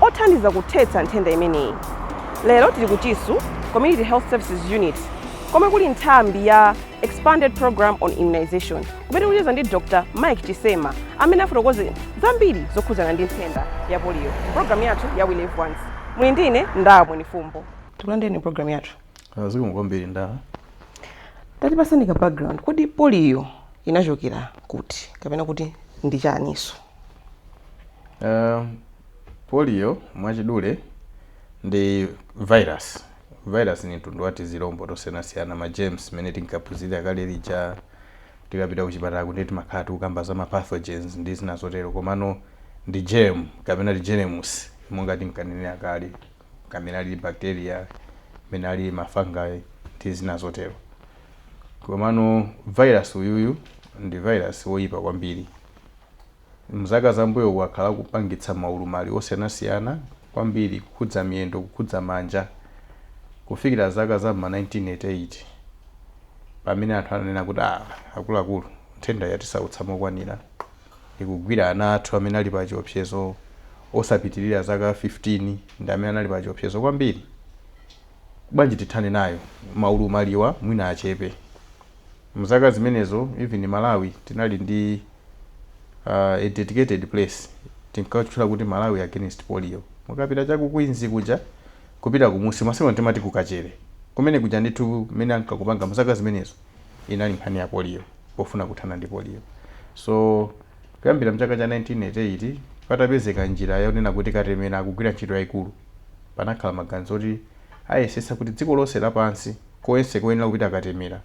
othandiza kuthetsa nthenda imeneyi. Lero tili ku Chisu Community Health Services Unit komwe kuli nthambi ya Expanded Program on Immunization kumene tikucheza ndi Dr. Mike Chisema amene afotokoze zambiri zokhudzana ndi nthenda ya poliyo mu programu yathu ya We Live Once. Muli ndi ine Ndawa Mwenifumbo. Tikulandireni mu programu yathu. Ah, Zikomo kwambiri Ndawa. Tatipatsani ka background. Kodi poliyo inachokera kuti kapena kuti ndi chaninso? Uh, polio mwachidule ndi virus. Virus ni mtundu wa tizilombo tosiyanasiyana ma germs mene tinkaphunzira kale lija tikapita kuchipatala kuti timakhala tikukamba za ma pathogens ndi zina zotero komano ndi germ kapena germs monga tinkanenera kale kamene ali bacteria mene ali ma fungi ndi zina zotero komano virus uyuyu ndi virus woyipa kwambiri M'zaka zambuyo wakhala akupangitsa maulumali osiyanasiyana kwambiri kukhudza miyendo kukhudza manja kufikira zaka za m'ma 1988 pamene anthu ananena kuti, Ah, akuluakulu, nthendayi yatisautsa mokwanira. Ikugwira ana athu amene ali pachiopsezo, osapitirira zaka 15 ndi amene anali pachiopsezo kwambiri. Bwanji tithane nayo, maulumaliwa mwina achepe. mzaka zimenezo even malawi tinali ndi a dedicated place tinkatchula kuti malawi against polio mukapita cha ku queens kuja kupita kumunsi masiku ano timati ku kachere kumene kuja ndithu mmene ankakupanga mzaka zimenezo inali nkhani ya polio pofuna kuthana ndi polio so kuyambira mchaka cha 1988 patapezeka njira yonena kuti katemera akugwira ntchito yaikulu panakhala maganizo oti ayesetse kuti dziko lonse lapansi Konse koyenera kupita katemera.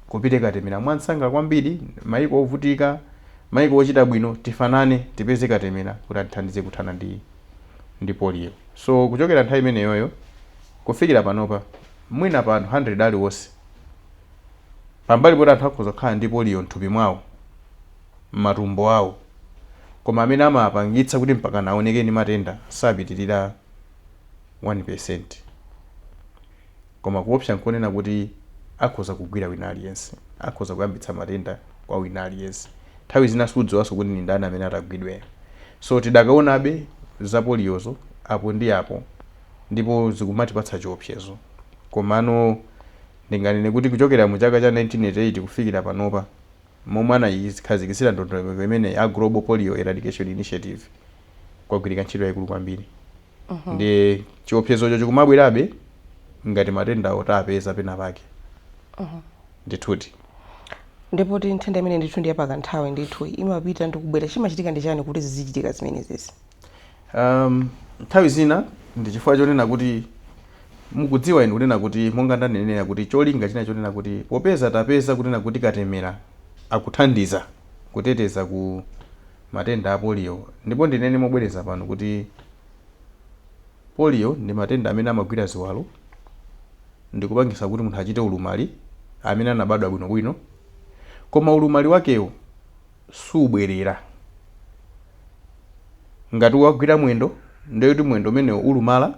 Kupite katemera mwansanga kwambiri, maiko ovutika, maiko ochita bwino, tifanane, tipeze katemera kuti atithandize kuthana ndi ndi polio. So kuchokera nthawi imeneyoyo kufikira panopa, mwina pa anthu 100 aliwonse, pambali poti anthu akhoza kukhala ndi polio m'thupi mwawo, m'matumbo awo, koma amene amapangitsa kuti mpakana aoneke ndi matenda sapitirira 1%. Koma kuopsa n'konena kuti akhoza kugwira wina aliyense. Akhoza kuyambitsa matenda kwa wina aliyense. Nthawi zina sudziwanso kuti ndi ndani amene atagwidwe. So tidakaonabe za poliyozo apo ndi apo ndipo zikumatipatsa chiopsezo. Komano ndinganene kuti kuchokera mu chaka cha 1988 kufikira panopa, momwe anayikhazikitsira ndondomeko imeneyi a Global Polio Eradication Initiative, kwagwirika ntchito yaikulu kwambiri. Mhm. ndi chiopsezocho chikumabwerabe ngati matenda otapeza pena pake Mhm. ndithudi ndiye poti nthenda imene ndithu ndi yapakanthawi ndithu imapita ndi kubwera chimachitika ndi chani kuti zizichitika zimenezezi um, nthawi zina ndi chifukwa chonena kuti mukudziwa inu kunena kuti monga ndanenera kuti cholinga china chonena kuti popeza tapeza kunena kuti katemera akuthandiza kuteteza ku matenda a polio ndipo ndinene mobwereza pano kuti polio ndi matenda amene amagwira ziwalo ndikupangisa kuti munthu achite ulumali amene anabadwa bwinobwino koma ulumali wakewo subwerera ngati wagwira mwendo ndiye kuti mwendo umenewo ulumala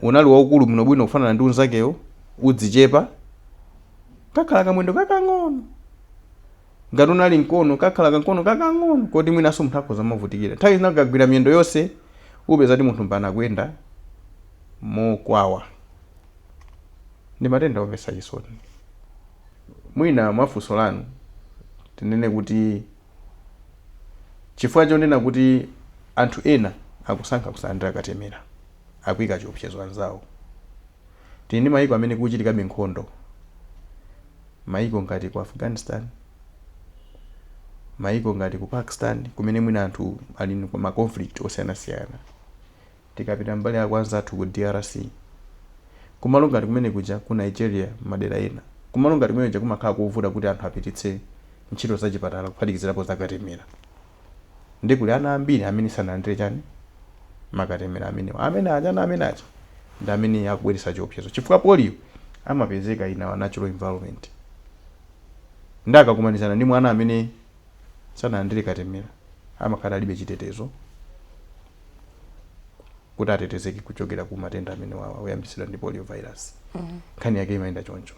unali waukulu bwinobwino kufanana ndi unzakewo uzichepa kakhala kamwendo kakang'ono ngati unali mkono kakhala kamkono kakang'ono koti mwinanso munthu akhoza kumavutikira nthawi zina kagwira miyendo yonse upeza kuti munthu mpaka kuyenda mokwawa ndi matenda omvetsa chisoni mwina mwa funso lanu tinene kuti chifukwa chonena kuti anthu ena akusankha kusalandira katemera akuika chiopsezo anzawo Tili ndi mayiko amene kuchitikabe nkhondo, mayiko ngati ku Afghanistan, mayiko ngati ku Pakistan kumene mwina anthu ali ndi ma conflict osiyanasiyana. Tikapita mbali ya kwa anzathu ku DRC, kumalo ngati kumene kuja, ku Nigeria m'madera ena, kumalo ngati kumene kuja kumakhala kovuta kuti anthu apititse ntchito zachipatala kuphatikizirapo zakatemera. Ndiye kuli ana ambiri amene sanalandire chani? Makatemera amenewa. Amene aja, ana amene aja ndi amene akubweretsa chiopsezo chifukwa polio amapezeka in our natural environment. Ndiye akakumanizana ndi mwana amene sanalandire katemera amakhala alibe chitetezo. kuti atetezeke kuchokera ku matenda amenewa oyambitsidwa ndi polio virus nkhani yake imayenda choncho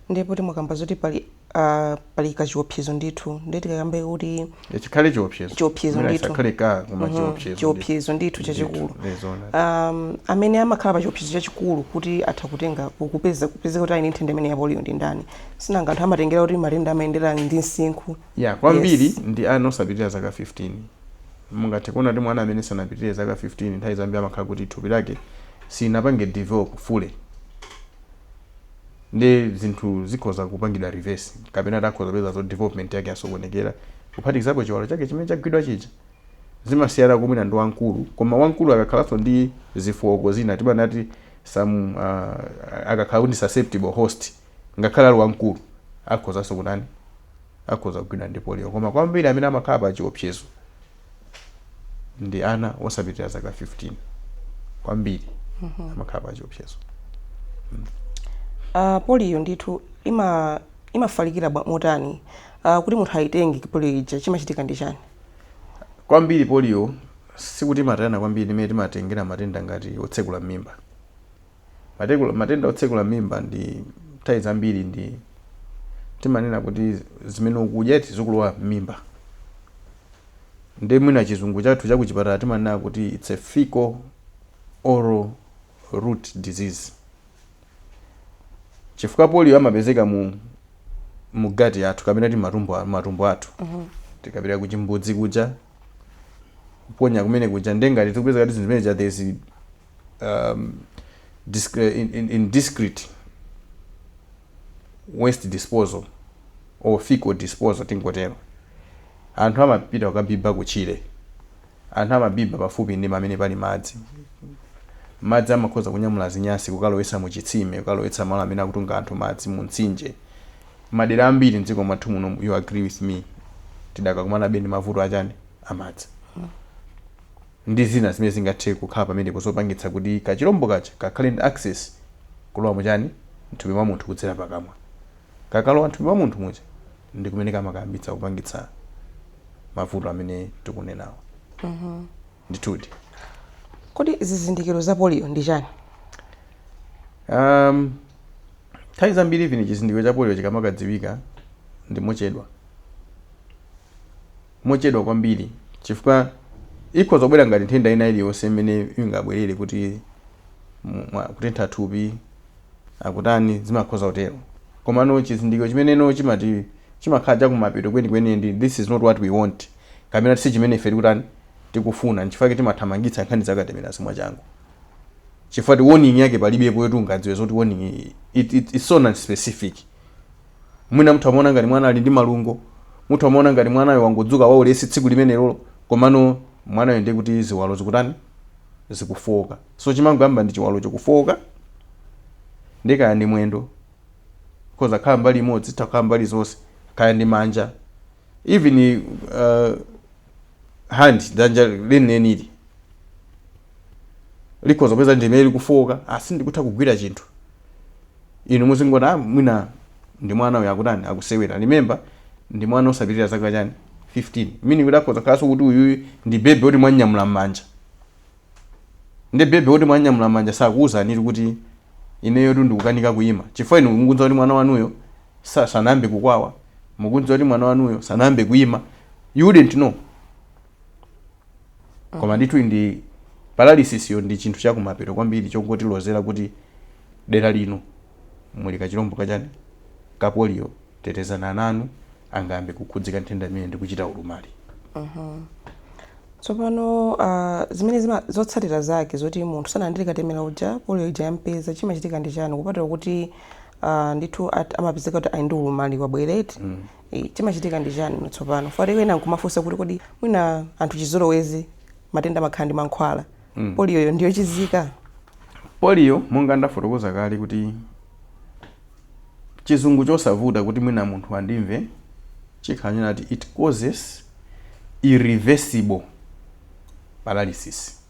ndiye poti mukukamba zoti pali ah, pali kachiopsezo ndithu ndiye tikakambe kuti Ya, chikhale chiopsezo Chiopsezo Mwina ndithu. chisakhale ka koma Mhm, chiopsezo chiopsezo ndithu chachikulu Ndithu, eh, zoona. um, amene amakhala pa chiopsezo chachikulu kuti atha kutenga kupeza kupezeka kuti ali ndi nthenda imeneyi ya polio ndi ndani sinanga anthu amatengera kuti matenda amayendera ndi msinkhu Ya, kwambiri Yes. ndi ana osapitirira zaka 15. Mungathe kuona kuti mwana amene sanapitirire zaka 15 nthawi zambiri amakhala kuti thupi lake silinapange develop fully. Ndiye zinthu zikhoza kupangidwa reverse kapena takhoza kupeza zoti development yake yasokonekera kuphatikizapo chiwalo chake chimene chagwidwa chija. Zimasiyana mwina ndi wamkulu, koma wamkulu akakhalanso ndi zofooka zina timanena kuti some uh, akakhala kuti ndi susceptible host Ngakhale ali wamkulu, akhozanso kutani? Akhoza kugwidwa ndi poliyo. Koma kwambiri amene amakhala pa chiopsezo ndi ana osapitirira zaka 15. Kwambiri amakhala pa chiopsezo. Ah, poliyo ndithu ima imafalikira bwa- motani? Ah, kuti munthu ayitenge poliyo ija chimachitika ndi chani? Kwambiri poliyo sikuti imatalikirana kwambiri ndi imene timatengera matenda ngati otsekula m'mimba. Matekula, matenda otsekula m'mimba ndi nthawi zambiri ndi timanena kuti zimene ukudya eti zikulowa m'mimba. Ndiye mwina chizungu chathu cha kuchipatala timanena kuti it's a fecal oral route disease. Chifukwa polio amapezeka mu mu gati yathu kapena kuti matumbo a- matumbo athu. Tikapita ku chimbudzi kuja kuponya kumene kuja ndiye ngati tikupeza kuti zinthu zimene zija there is um, disc, uh, in, in, indiscreet waste disposal or fecal disposal tingotero anthu amapita kukabiba kutchire anthu amabiba pafupi ndi pamene pali madzi madzi amakhoza kunyamula zinyasi kukalowetsa mu chitsime kukalowetsa malo amene akutunga anthu madzi mu mtsinje madera ambiri mdziko mwathu muno you agree with me tidakakumanabe ndi mavuto achani amadzi ndi zina zimene zingathe kukhala pamenepo zopangitsa kuti kachilombo kaja kakhale ndi access kulowa mu chani, mthupi mwa munthu kudzera pakamwa. Kakalowa mthupi mwa munthu muja ndi kumene kamakayambitsa kupangitsa mavuto amene tikunenawa. Ndithudi. Kodi zizindikiro za polio ndi chani? Umm, nthawi zambiri even chizindikiro cha polio chikamakadziwika ndi mochedwa. mochedwa kwambiri chifukwa ikhoza kubwera ngati nthenda ina iliyonse imene ingabwerere kuti mwina kutentha thupi akutani zimakhoza kutero komano chizindikiro chimenecho chimati chimakhala chakumapeto kwenikweni ndi this is not what we want kapena si chimene ife tikutani tikufuna nchifukwa chake timathamangitsa nkhani za katemerazi mwachangu chifukwa choti warning yake palibepo yoti ungadziwe zoti warning it, it, it's so non specific Mwina mutha kumaona ngati mwana ali ndi malungo, mutha kumaona ngati mwanayo wangodzuka waulesi tsiku limenelolo, komano mwanayo ndiye kuti ziwalo zikutani? Zikufooka. So chimangoyamba ndi chiwalocho kufooka, ndiye kaya ndi mwendo, ikhoza kukhala mbali imodzi, zitha kukhala mbali zonse, kaya ndi manja, even uh, hand dzanja lenileni likhoza kupeza ndimene likufooka asi- ndikutha kugwira chinthu inu muzingoti ah, mwina ndi mwana uyu akutani akusewera remember ndi mwana osapitirira zaka chani 15 meaning kuti akhoza khalanso kuti uyuyu ndi baby woti mwanyamula m'manja Nde baby woti mwanyamula m'manja sakuuzanitu kuti ineyotu ndikukanika kuima chifukwa inu mukudziwa kuti mwana wanuyo sa, sanayambe kukwawa mukudziwa kuti mwana wanuyo sanayambe kuima you wouldn't know koma ndithu ndi paralysis yo ndi chinthu chakumapeto kwambiri chongotilozera kuti dera lino muli kachilombo ka chani? ka polio tetezani ana anu angayambe kukhudzika nthenda imeneyi ndi kuchita ulumali. Tsopano ah, zimene zima, zotsatira zake zoti munthu sanalandire katemera uja polio ija yampeza chimachitika ndi chani kupatula kuti ah, ndithu at- amapezeka kuti ali ndi ulumali wabwereti Eh, chimachitika ndi chani tsopano funso ena nkumafunsa kuti kodi mwina anthu chizolowezi matenda amakhala ndi mankhwala mm. poliyoyo ndi yochizika poliyo monga ndafotokoza kale kuti chizungu chosavuta kuti mwina munthu andimve chikhala chonena kuti it causes irreversible paralysis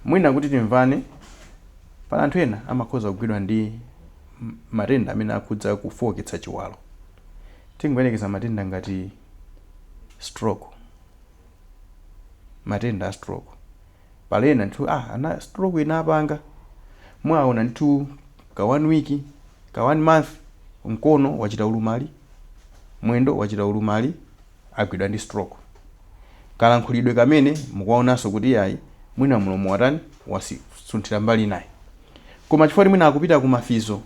mwina kuti timvane pali anthu ena amakhoza kugwidwa ndi matenda amene akhudza kufooketsa chiwalo tingoyerekeza matenda ngati stroke matenda a stroke pali ena ndithu ah a stroke inapanga mwaona ndithu ka one week ka one month mkono wachita ulumali mwendo wachita ulumali agwidwa ndi stroke kalankhulidwe kamene mukuwaonanso kuti yayi mwina mlomo watani wasunthira mbali inayake koma chifukwa kuti mwina akupita ku ma physio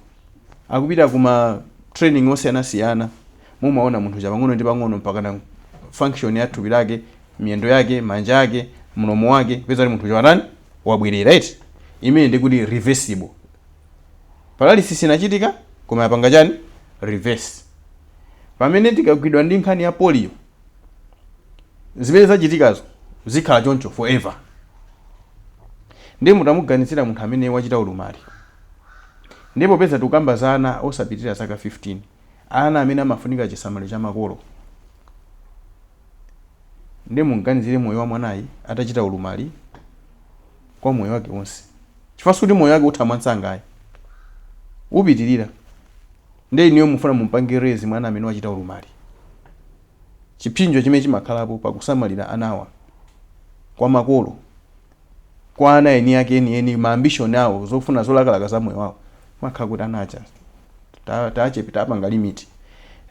akupita ku ma training osiyanasiyana Mumaona munthu uja pang'ono ndi pang'ono mpakana function ya thupi lake, miyendo yake, manja ake, mlomo wake, kupeza kuti munthu uja watani? Wabwerera eti. Imene ndi kuti reversible. Paralysis inachitika koma yapanga chani? Reverse. Pamene tikagwidwa ndi nkhani ya polio, zimene zachitikazo zikhala choncho forever. Ndiye mutamuganizira munthu amene wachita ulumali, ndiye popeza tikukamba za ana osapitirira zaka 15, ana amene amafunika chisamaliro cha makolo. Ndiye mumganizire moyo wa mwanayi atachita ulumali kwa moyo wake wonse. Chifukwa sikuti moyo wake utha mwansanga ayi. Upitirira. Ndiye inuyo mufuna mumpange raise mwana amene wachita ulumali. Chipsinjo chimene chimakhalapo pakusamalira anawa kwa makolo. kwa ana eni ake eni eni ma ambition awo, zofuna zolakalaka za moyo wawo mwakhala kuti ana aja tatachepetsa tapanga limit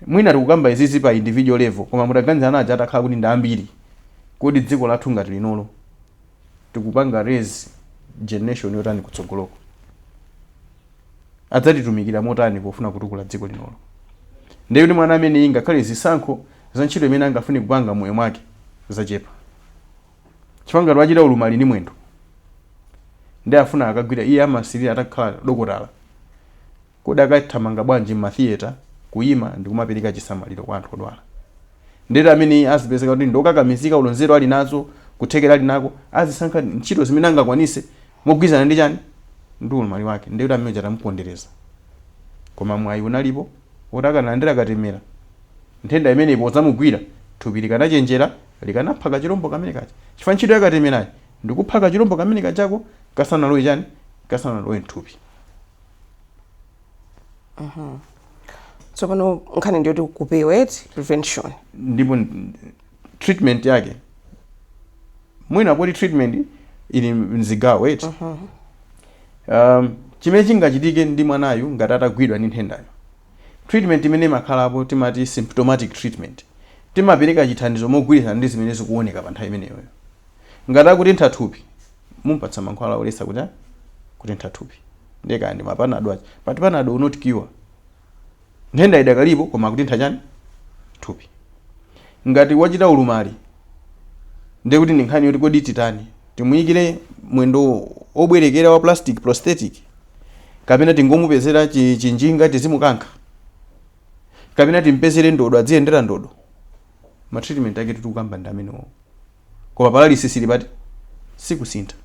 mwina tikukamba izizi pa individual level koma mutaganza ana aja atakhala kuti ndambiri kodi dziko lathu ngati linolo tikupanga raise generation yotani kutsogoloko adzatitumikira motani pofuna kutukula dziko linolo ndiye kuti mwana ameneyi ngakhale zisankho za ntchito imene angafune kupanga moyo mwake zachepa chifukwa ngati wachita ulumali ndi mwendo ndi afuna akagwira iye amasilira atakhala dokotala kodi akathamanga bwanji m'mathiyeta kuyima ndi kumapereka chisamaliro kwa anthu odwala ndiye uja amene azipezeka kuti ndi okakamizika olo nzeru ali nazo kuthekera ali nako azisankha ntchito zimene angakwanise mogwirizana ndi chani ndi ulumali wake ndekuti amene uja tamupondereza koma mwayi unalipo woti akanalandira katemera nthenda imeneyi podzamugwira thupi likanachenjera likanapha kachilombo kamene kaja chifukwa ntchito ya katemerayo ndikupha kachilombo kamene kajako kasanalowe chani kasanalowe mthupi tsopano nkhani ndiyoti kupewa eti prevention ndipo n- treatment yake mwina poti treatment ili mzigawo eti um, chimene chingachitike ndi mwanayu ngati atagwidwa ndi nthendayo treatment imene imakhalapo timati symptomatic treatment. Timapereka chithandizo mogwirizana ndi zimene zikuoneka pa nthawi imeneyoyo. Ngati akutentha thupi, mumupatsa mankhwala oletsa kuti kutentha thupi. Ndiye kaya ndi ma panado aja. But panado will not cure. Nthenda idakalipo koma akutentha chani? Thupi. Ngati wachita ulumali ndiye kuti ndi nkhani yoti kodi titani? Timuyikire mwendo wobwerekera wa plastic, prosthetic? Kapena tingomupezera chinjinga tizimukankha? Kapena timpezere ndodo adziyendera ndodo? Ma treatment aketu tikukamba ndi amenewowo. Koma paralysis ili pati? Sikusintha.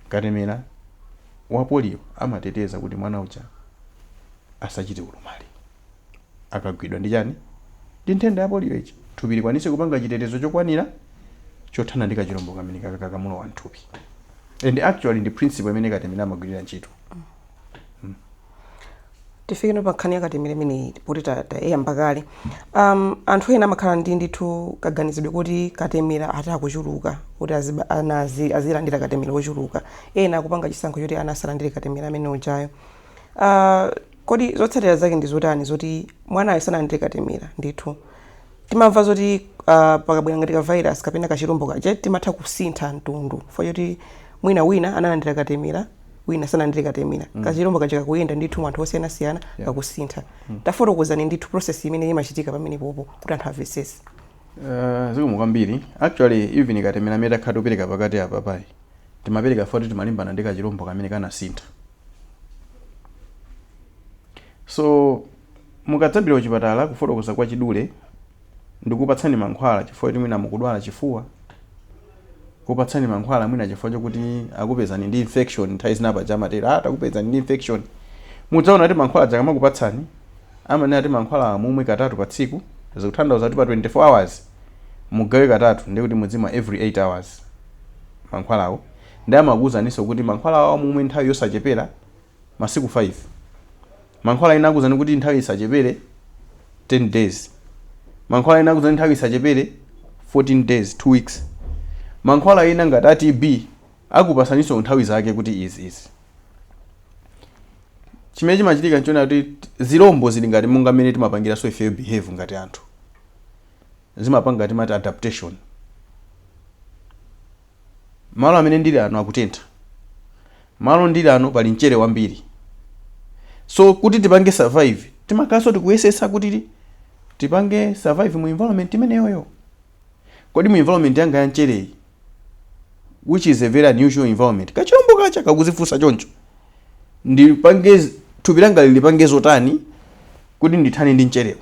Katemera wa polio amateteza kuti mwana uja asachite ulumali. akagwidwa ndi chani ndi nthenda ya polio ija thupi likwanise kupanga chitetezo chokwanira chothana ndi kachilombo kamene kaka kakamulowa mthupi and actually ndi principle imene katemera amagwirira ntchito tifike pa nkhani ya katemera imeneyi poti ta- tayamba kale um, anthu ena amakhala ndi ndithu kaganizidwe kuti katemera ati akuchuluka kuti aziba- ana azi- azilandira katemera wochuluka ena akupanga chisankho choti ana asalandire katemera amene ujayo uh, kodi zotsatira zake ndi zotani zoti mwanayo sanalandire katemera ndithu timamva zoti uh, pakabwera ngati ka virus kapena kachilombo kaja kamatha kusintha mtundu fo choti mwina wina analandira katemera wina sanalandire katemera mm. kachilombo kaja kakuyenda ndithu mwanthu osiyanasiyana yeah. kakusintha mm. tafotokozani ndithu process imene imachitika pamene popo kuti anthu amvetsetse uh, zikomo kwambiri actually even katemera amene takhala tikupereka pakati apapayi timapereka poti timalimbana ndi kachilombo kamene kanasintha so mukadzapita kuchipatala kufotokoza kwa chidule ndikupatsani mankhwala chifukwa choti mwina mukudwala chifuwa kupatsani mankhwala mwina chifukwa chokuti akupezani ndi infection nthawi zina paja amatero ah takupezani ndi infection mudzaona kuti mankhwala aja akamakupatsani amanena kuti mankhwala awa mumwe katatu pa tsiku zikutanthauza kuti pa 24 hours mugawe katatu ndikuti mudzimwa every 8 hours mankhwalawo Nde amakuuzaninso kuti mankhwala awa mumwe nthawi yosachepera masiku 5. Mankhwala ena akuuzani kuti nthawi isachepere 10 days. Mankhwala ena akuuzani nthawi isachepere 14 days, 2 weeks. Mankhwala ena ngati a TB akupatsaninso nthawi zake kuti izi izi. Chimene chimachitika nchonena kuti zilombo zili ngati monga mmene timapangiranso ifeyo behave ngati anthu. Zimapanga timati adaptation. Malo amene ndili ano akutentha. Malo ndili ano pali mchere wambiri. So kuti tipange survive timakhalanso tikuyesetsa kuti tipange survive mu environment imeneyoyo. Kodi mu environment yanga ya mchereyi which is a very unusual environment, kachilombo kaja kakudzifunsa choncho, ndipange thupi langa lilipange zotani kuti ndithane ndi mcherewu?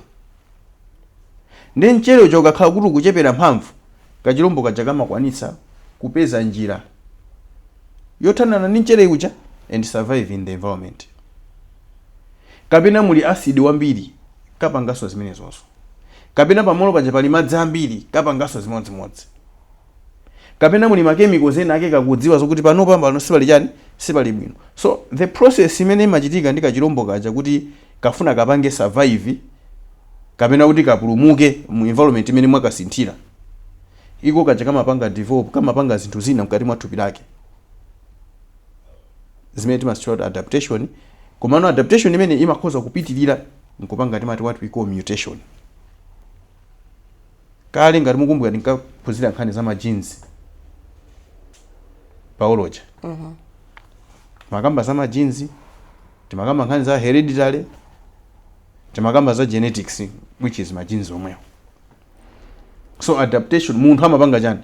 Ndiye mchere uja ukakhala kuti ukuchepera mphamvu, kachilombo kaja kamakwanitsa kupeza njira yothanana ndi mchere uja and survive in the environment. Kapena muli acid wambiri, kapanganso zimenezozo. Kapena pa malo paja pali madzi ambiri, kapanganso zimodzimodzi. Kapena muli ma chemicals ena ake kakudziwa zokuti panopa pano sipali chani, sipali bwino. So the process imene imachitika ndi kachilombo kaja kuti Kafuna kapange survive kapena kuti kapulumuke mu environment imene mwakasinthira. Iko kaja kamapanga develop, kamapanga zinthu zina mkati mwa thupi lake zimene timazitchula kuti adaptation. Komano adaptation imeneyi imakhoza kupitirira n'kupanga timati what we call mutation. Kale ngati mukumbuka tinkaphunzira nkhani za ma genes pa biology. Timakamba za ma genes, timakamba nkhani za hereditary, timakamba za genetics which is ma genes omwewo. So adaptation munthu amapanga chani?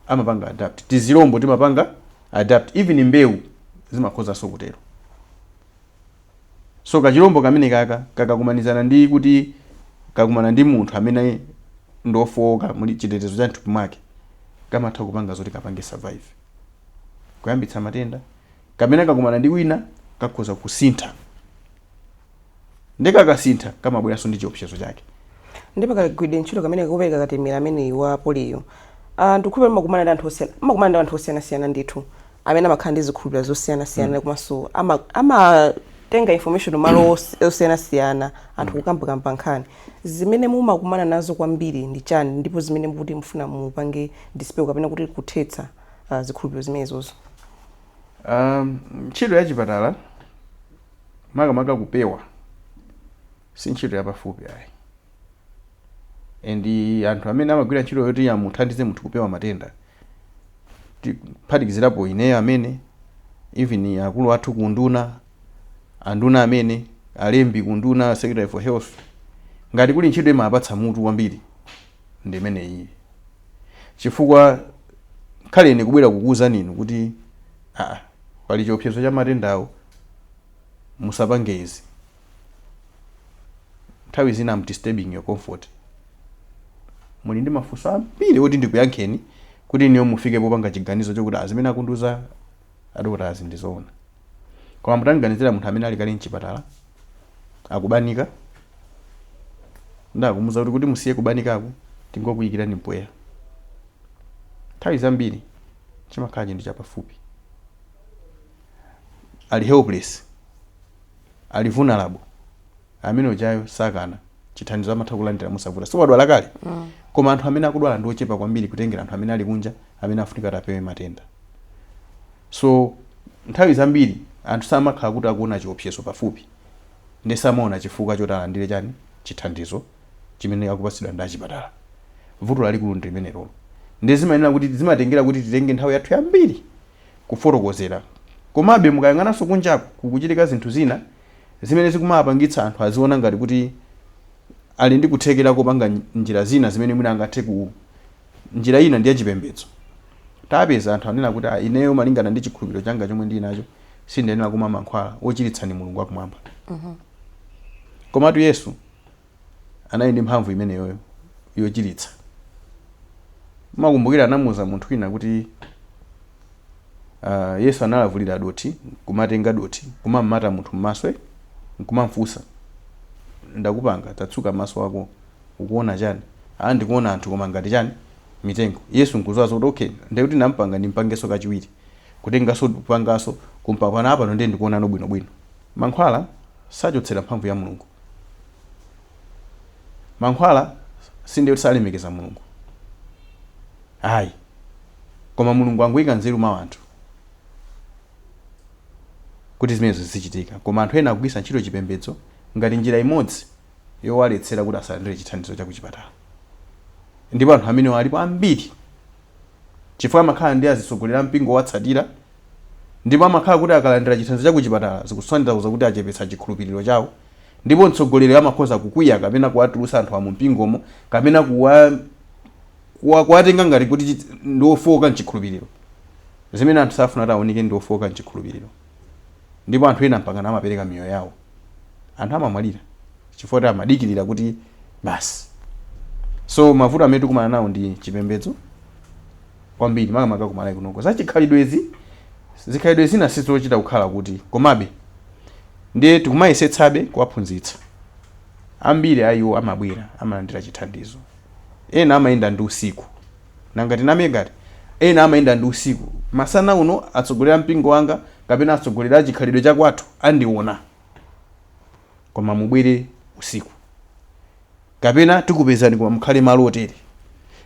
Amapanga adapt. Tizilombo timapanga adapt. Even mbewu zimakhozanso kutero. So kachilombo kamenekaka kakakumanizana ndi kuti kakumana ndi munthu amene ndi ofooka muli chitetezo cha mthupi mwake kamatha kupanga zoti kapange survive kuyambitsa matenda kapena kakumana ndi wina kakhoza kusintha nde kakasintha kamabweranso ndi chiopsezo chake nde pakagwiridwe ntchito kameneka kopereka katemera ameneyu wa poliyo ndikukhulupirira mumakumana ndi anthu osiyana mumakumana ndi anthu osiyanasiyana ndithu amene amakhala ndi zikhulupiriro zosiyanasiyana komanso ama- amatenga information malo os- osiyanasiyana anthu kukambakamba nkhani zimene mumakumana nazo kwambiri ndi chani ndipo zimene mukuti mufuna mupange dispel kapena kuti kuthetsa ah, zikhulupiriro zimenezozo Um, ntchito ya chipatala makamaka kupewa si ntchito yapafupi ayi and anthu amene amagwira ntchito yoti amuthandize munthu kupewa matenda ti- kuphatikizirapo ineyo amene even akulu athu kunduna anduna amene alembi kunduna secretary for health ngati kuli ntchito imapatsa mutu kwambiri ndi imeneyi chifukwa kwa ine kubwera kukuwuzani inu kuti aa pali chiopsezo cha matendawo musapange izi nthawi zina am disturbing your comfort muli ndi mafunso ambiri oti ndikuyankheni kuti inuyo mufike popanga chiganizo chokuti ah zimene akundiuza adokotalazi ndizoona koma mutanganizira munthu amene ali kale mchipatala akubanika ndakumuuza kuti kuti musiye kubanikaku tingokuyikirani mpweya nthawi zambiri chimakhala chinthu chapafupi ali helpless ali vulnerable amene ujayo sakana chithandizo amatha kulandira mosavuta so wadwala kale koma anthu amene akudwala ndi ochepa kwambiri kutengera anthu amene ali kunja amene afunika kuti apewe matenda so nthawi zambiri anthu samakhala kuti akuona chiopsezo pafupi nde samaona chifukwa choti alandire chani chithandizo chimene akupatsidwa ndi achipatala vuto lalikulu ndi limenelolo nde zimayenera kuti zimatengera kuti titenge nthawi yathu yambiri Kufotokozera, Komabe mukayang'ananso kunjaku, kukuchitika zinthu zina zimene zikumawapangitsa anthu aziona ngati kuti ali ndi kuthekera kopanga njira zina zimene mwina angathe ku njira ina ndi yachipembedzo. Tapeza anthu anena kuti ah, ineyo malingana ndi chikhulupiriro changa chomwe ndili nacho sindiyenera kumwa mankhwala, wochiritsa ndi Mulungu wakumwamba. Komatu Yesu. anali ndi mphamvu imeneyoyo yochiritsa. Mumakumbukira anamuuza munthu wina kuti ah, Yesu analavulira dothi kumatenga dothi nkumammata munthu m'maso eh, nkumamfunsa ndakupanga tatsuka maso ako ukuona chani? Ah, ndikuona anthu koma ngati chani mitengo. Yesu nkudziwa zoti okay, ndiye kuti nampanga ndimpangenso kachiwiri kutenganso kupanganso kumpaka apano ndiye ndikuonano bwinobwino. Mankhwala sachotsera mphamvu ya Mulungu. mankhwala sindiye kuti salemekeza Mulungu ayi koma Mulungu anangoyika nzeru mwa anthu kuti zimenezo zizichitika koma anthu ena akugwiritsa ntchito chipembedzo ngati njira imodzi yowaletsera kuti asalandire chithandizo cha kuchipatala ndipo anthu amenewa alipo ambiri. chifukwa amakhala ndi azitsogoleri ampingo owatsatira ndipo amakhala kuti akalandira chithandizo cha kuchipatala zikusanthauza kuti achepetsa chikhulupiriro chawo ndipo mtsogoleriyo amakhoza kukwiya kapena kuwatulutsa anthuwa mumpingomo kapena kuwa, kuwa, kuwatenga ngati kuti ndi ofooka m'chikhulupiriro, zimene anthu safuna kuti aoneke ndi ofooka m'chikhulupiriro. ndipo anthu ena mpakana amapereka miyoyo yawo. Anthu amamwalira chifukwa choti amadikirira kuti basi. So mavuto amene tikumana nawo ndi chipembedzo kwambiri makamaka ku Malawi kunoko. Za chikhalidwezi, zikhalidwe zina sizochita kukhala kuti komabe ndiye tikumayesetsabe kuwaphunzitsa. Ambiri a iwo amabwera amalandira chithandizo, ena amayenda ndi usiku Nanga tinamenji? Ena amayenda ndi usiku. Masana uno atsogoleri a mpingo wanga kapena atsogoleri a chikhalidwe cha kwathu andiona. Koma mubwere usiku. Kapena tikupezani koma mukhale malo otere.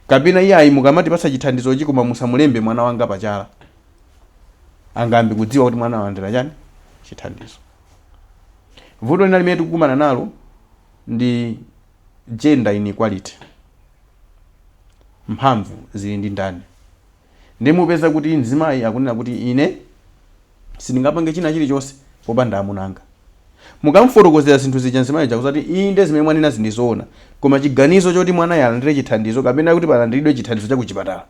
Kapena iyayi mukamatipatsa chithandizochi koma musamulembe mwana wanga pa chala. Angayambe kudziwa kuti mwana walandira chani? Chithandizo. Vuto lina limene tikukumana nalo ndi. gender inequality mphamvu zili ndi ndani nde mupeza kuti mzimayi akunena kuti ine sindingapange china chilichonse popanda amuna anga mukamfotokozera zinthu zija mzimayi uja adzakuti inde zimene mwanena ndi zoona koma chiganizo choti mwanayo alandire chithandizo kapena kuti palandiridwe chithandizo cha kuchipatala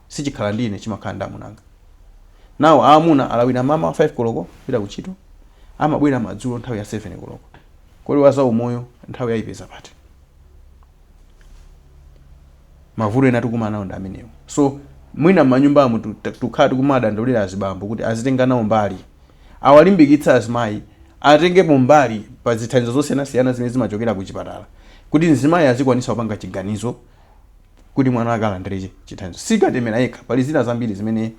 sichikhala ndi ine chimakhala ndi amunanga. Nawo aamuna alawira mamawa 5 koloko pita kuntchito, amabwera madzulo nthawi ya 7 koloko. Kodi wa zaumoyo nthawiyo aipeza pati? Mavuto ena tikukumana nawo ndi amenewo. So mwina m'manyumbamu tu- ta- tikukhala tikumadandaulira azibambo kuti azitenga nawo mbali, awalimbikitse azimayi atengepo mbali pa zithandizo zosiyanasiyana zimene zimachokera ku chipatala kuti mzimayi azikwanisa kupanga chiganizo kuti mwana wake alandire chithandizo. Si katemera yekha, pali zina zambiri zimene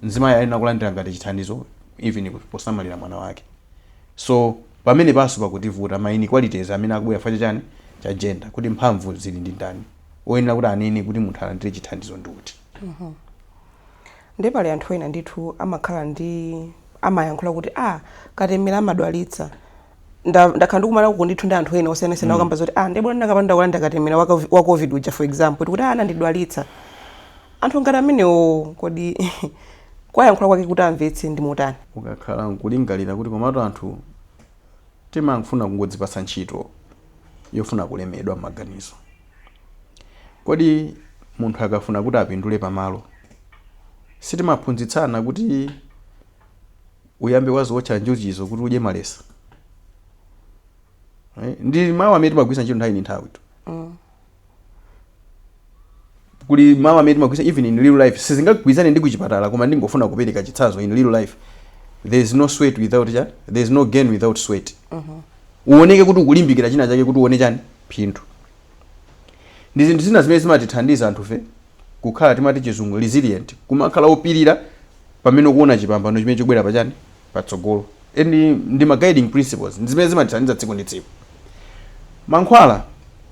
mzimayi ayenera kulandira ngati chithandizo even posamalira mwana wake. So pamenepanso pakutivuta ma inequalities amene akubwera chifukwa cha chani? Cha gender, kuti mphamvu zili ndi ndani. Oyenera kuti anene kuti munthu alandire chithandizo ndi uti. Ndiye pali anthu ena ndithu amakhala ndi, amayankhula kuti ah katemera amadwalitsa. nda- ndakhala ndikumana uku ndithu ndi anthu ena osiyanasiyana okamba zoti ah ndi bwino ndikanapanda kulandira katemera wa covid- wa covid uja for example tikuti anandidwalitsa anthu ngati amenewo kodi kuwayankhula kwake kuti amvetse ndi motani ukakhala nkulingalira kuti komatu anthu timafuna kungodzipatsa ntchito yofuna kulemedwa m'maganizo kodi munthu akafuna kuti apindule pamalo sitimaphunzitsana kuti uyambe wadziwotcha njuchizo kuti udye malesa Eh, ndi mawu amene timagwiritsa ntchito nthawi ndi nthawi tu kuli mawu amene timagwiritsa even in real life sizingagwirizane ndi kuchipatala koma ndingofuna kupereka chitsanzo in real life there is no sweat without cha there is no gain without sweat uoneke kuti ukulimbikira china chake kuti uone chani phindu ndi zinthu zina zimene zimatithandiza anthufe kukhala timati chizungu resilient kumakhala opirira pamene ukuona chipambano chimene chikubwera pa chani patsogolo and ndi ma guiding principles ndi zimene zimatithandiza tsiku ndi tsiku mankhwala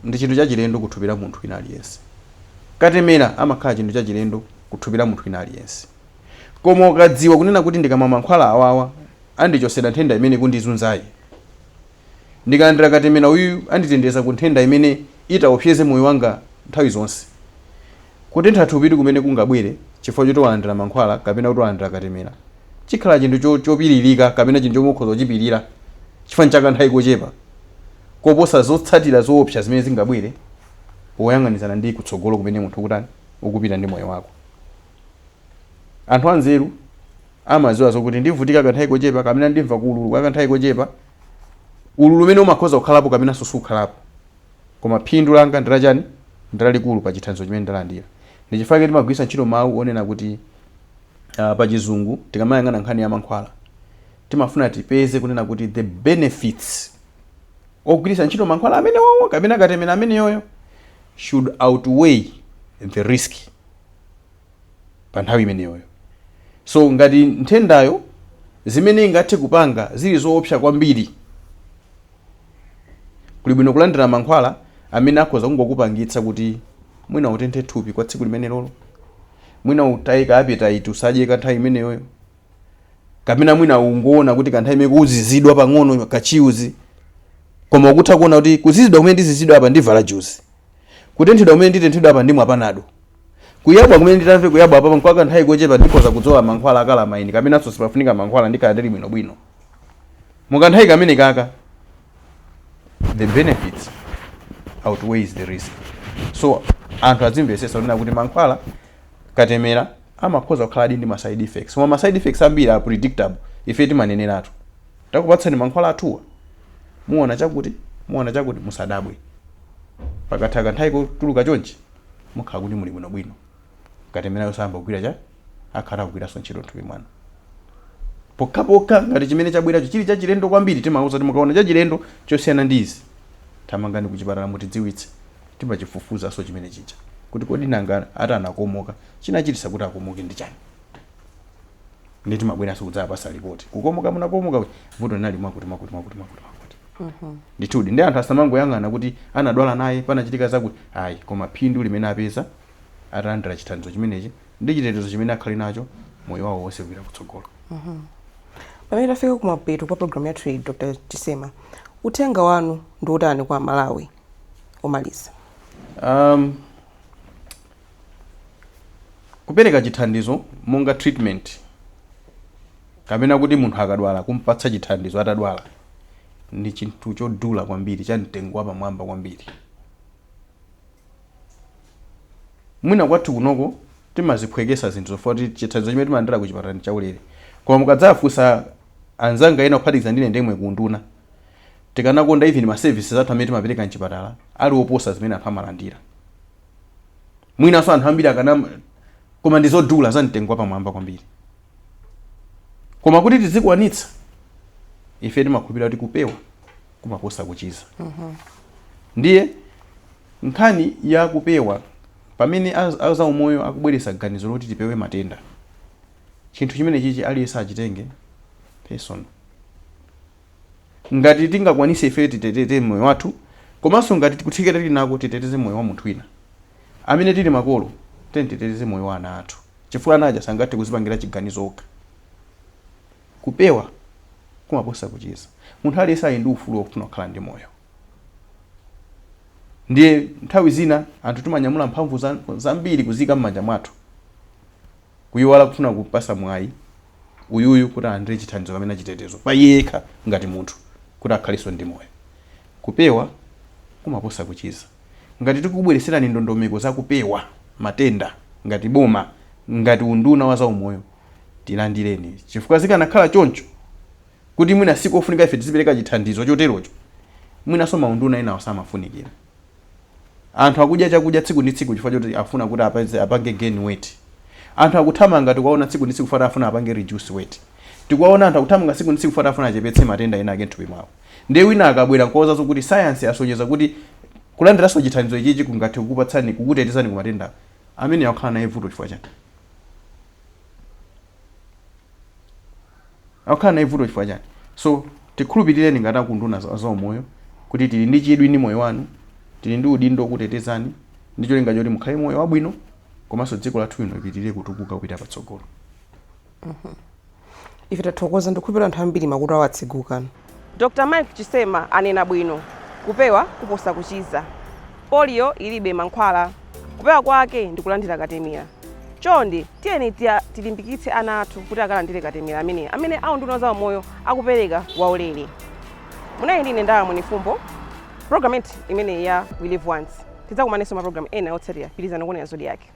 ndi chinthu chachilendo ku thupi la munthu wina aliyense katemera amakhala chinthu chachilendo ku thupi la munthu wina aliyense koma ukadziwa kunena kuti ndikamwa mankhwala awawa andichosera nthenda imene ikundizunzayi ndikalandira katemera uyuyu anditeteza ku nthenda imene itaopseze moyo wanga nthawi zonse Kutentha thupi kumene kungabwere chifukwa choti walandira mankhwala kapena kuti walandira katemera chikhala chinthu cho chopiririka kapena chinthu chomwe ukhoza kuchipirira chifukwa nchakanthawi kochepa koposa zotsatira zoopsa zimene zingabwere poyang'anizana ndi kutsogolo kumene munthu ukutani ukupita ndi moyo wako. Anthu anzeru amadziwa zokuti ndivutika kanthawi kochepa kapena ndimva ululu kwa kanthawi kochepa, ululu umene umakhoza kukhalapo kapenanso sukhalapo Koma phindu langa ndi lachani? Ndi lalikulu pa chithandizo chimene ndalandira. Ndi chifukwa chake timagwiritsa ntchito mawu onena kuti ah, pa chizungu tikamayang'ana nkhani ya mankhwala timafuna tipeze kunena kuti the benefits ogwiritsa ntchito mankhwala amenewowo kapena katemera ameneyoyo should outweigh the risk pa nthawi imeneyoyo. So ngati nthendayo zimene ingathe kupanga zili zoopsa kwambiri Kuli bwino kulandira mankhwala amene akhoza kungokupangitsa kuti mwina utenthe thupi kwa tsiku limenelolo, mwina utaye ka appetite usadye kanthawi imeneyoyo, kapena mwina ungoona kuti kanthawi imene kuzizidwa pang'ono ka chills koma ukutha kuona kuti kuzizidwa kumene ndizizidwa apa ndivala juzi, kutenthedwa kumene nditenthedwa apa ndimwa panado, kuyabwa kumene nditamve kuyabwa apapa n'kwa kanthawi kochepa ndikhoza kudzola mankhwala a calamine kapenanso sipafunika mankhwala ndikhala ndili bwinobwino. Mu kanthawi kamenekaka the benefits outweighs the risk. So anthu azimvetsetsa kunena kuti mankhwala katemera amakhoza kukhala adi ndi ma side effects. Koma ma side effects ambiri are predictable. Ife timaneneratu. Takupatsani mankhwala athuwa. Muona chakuti, muona chakuti musadabwe. Pakatha kanthawi kochuluka chonchi mukhala kuti muli bwinobwino. Katemerayo sayamba kugwira cha akhala akugwiranso ntchito m'thupi mwanu pokhapokha ngati chimene chabweracho chili chachilendo kwambiri timauza kuti mukaona chachilendo chosiyana ndi izi thamangani kuchipatala mutidziwitse timachifufuzanso chimene chija kuti kodi nanga ati anakomoka chinachitisa kuti akomoke ndi chani ndiye timabweranso kudzapasa lipoti kukomoka munakomoka kuja vuto linali mwakuti mwakuti mwakuti mwakuti mwakuti ndithudi ndiye anthu asamangoyang'ana kuti anadwala naye panachitika zakuti ayi koma phindu limene wapeza atalandira chithandizo chimenechi ndi chitetezo chimene akhale nacho moyo wawo wonse kupita kutsogolo. Pamene tafika kumapeto kwa programu yathu iyi, Dr. Chisema, uthenga wanu ndi wotani kwa aMalawi womaliza? Um, kupereka chithandizo monga treatment kapena kuti munthu akadwala kumpatsa chithandizo atadwala ndi chinthu chodula kwambiri cha mtengo wapamwamba kwambiri Mwina kwathu kunoko timaziphwekesa zinthu chifukwa choti chithandizo chimene timalandira kuchipatala ndi chaulere koma mukadzafunsa anzanga ena kuphatikiza ine ndemwe ku unduna tikanakonda even ma services athu amene timapereka mchipatala ali oposa zimene anthu amalandira mwinanso anthu ambiri akana koma ndi zodula za mtengo wapamwamba kwambiri koma kuti tizikwanitsa ife timakhulupirira kuti kupewa kumaposa kuchiza. mm -hmm. Ndiye nkhani ya kupewa pamene azaumoyo akubweretsa ganizo loti tipewe matenda, chinthu chimenechichi aliyense achitenge personal. Ngati tingakwanise ife titeteze moyo wathu komanso ngati kuthekera tili nako titeteze moyo wa munthu wina amene tili makolo, tiyeni titeteze moyo wa ana athu chifukwa ana aja sangathe kuzipangira chiganizo okha. Kupewa kumaposa kuchiza. Munthu aliyense ali ndi ufulu wofuna kukhala ndi moyo. Ndiye nthawi zina anthu timanyamula mphamvu zambiri kuziika m'manja mwathu kuyiwala kufuna kupasa mwayi uyuyu kuti alandire chithandizo kapena chitetezo pa iye yekha ngati munthu kuti akhalenso ndi moyo. Kupewa kumaposa kuchiza. Ngati tikukubweretserani ndondomeko za kupewa matenda ngati boma, ngati unduna wa zaumoyo, tilandireni, chifukwa zikanakhala choncho kuti mwina sikofunika ife tizipereka chithandizo choterocho, mwinanso maunduna enawo osamafunikira. Anthu akudya chakudya tsiku ndi tsiku chifukwa choti akufuna kuti apeze, apange gain weight. Anthu akuthamanga tikuwaona tsiku ndi tsiku chifukwa choti akufuna apange reduce weight. Tikuwaona anthu akuthamanga tsiku ndi tsiku chifukwa choti akufuna achepetse matenda enaake m'thupi mwawo. Ndiye wina akabwera n'kuwauza kuti sayansi yasonyeza kuti kulandiranso chithandizo ichichi kungathe kukupatsani, kukutetezani ku matenda awa, amene akukhala naye vuto chifukwa chani? akukhala nayo vuto chifukwa chani so tikhulupirireni ngati akunduna za zaumoyo kuti tili ndi chidwi ndi moyo wanu tili ndi udindo wokutetezani ndi cholinga choti mukhale moyo wabwino komanso dziko lathu lino lipitirire kutukuka kupita patsogolo ife tathokoza ndikhulupirira anthu ambiri makutu awo atseguka. Dr Mike Chisema anena bwino, kupewa kuposa kuchiza. Polio ilibe mankhwala. Kupewa kwake ndi kulandira katemera. Chonde tiyeni tilimbikitse ana athu kuti akalandire katemera amene amene a unduna wa za umoyo akupereka waulere. Munali ndi ine Ndala Mwenifumbo. Program imeneyi ya We Live Once. Tidzakumananso maprogram ena otsatira. Pitirizani kuonera Zodiak.